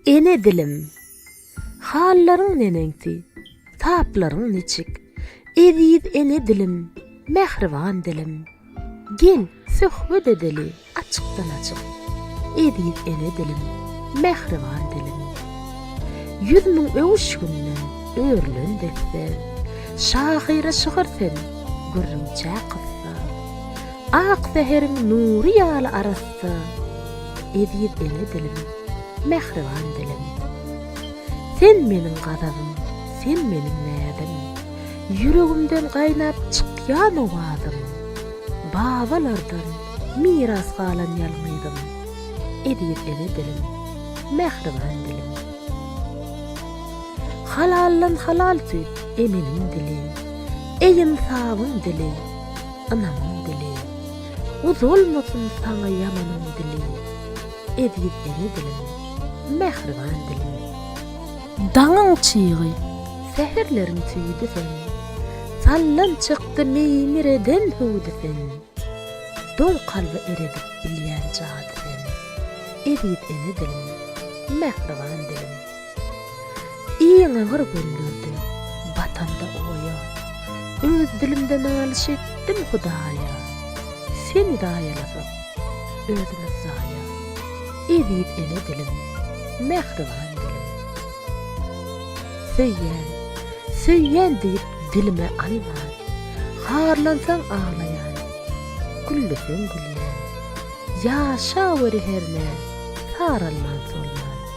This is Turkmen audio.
Ene dilim, hallaryň neneňsi, taplaryň niçik? Eziz ene dilim, mähriban dilim, gel, söhbet edeli açykdan-açyk. Eziz ene dilim, mähriban dilim. Ýüz müň öwüşginden örülen desse, şahyra şygyr sen, gürrüňçä kyssa. Ak säheriň nury ýaly arassa, Eziz ene dilim, mähriban dilim. Sen meniň gazabym, sen meniň näzim, Ýüregimden gaýnap çykýan owazym. Babalardan miras galan ýalňyzym, Eziz ene dilim, mähriban dilim. Halaldan halal süýt emenin dili, Eý ynsabyň dili. ynamyň dili, Uzalmasyn saňa ýamanyň dili, Eziz ene dilim, mähriban dilim. Daňyň çygy, säherleriň tüýüdi sen, Sallan çykdy meýmireden hüwdi sen, Doň kalby eredip bilýän jady sen, Eziz ene dilim, mähriban dilim. Iň agyr günlerde batanda oýa, Öz dilimde nalyş etdim Hudaýa. Seni zaýalasak, özümiz zaýa, Eziz ene dilim, mähriban dilim. Söýýän, söýýän diýip dilime alman, Harlansaň aglaýan, gülleseň gülýän, Ýaşaweri hernä, saralman-solman.